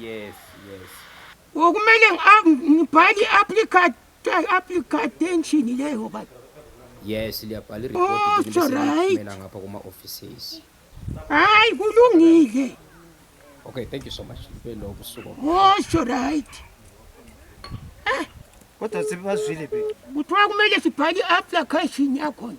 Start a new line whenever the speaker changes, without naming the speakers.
Yes,
yes.
Okumele ngibhale i-application application leyo ba yes
liyabhala iripotmela ngapha
kuma-offices
hayi
kulungile okay
thank you so much belo busuku osho right
eh.
kodwa sebebazwile be kuthiwa kumele sibhale
i-application yakhona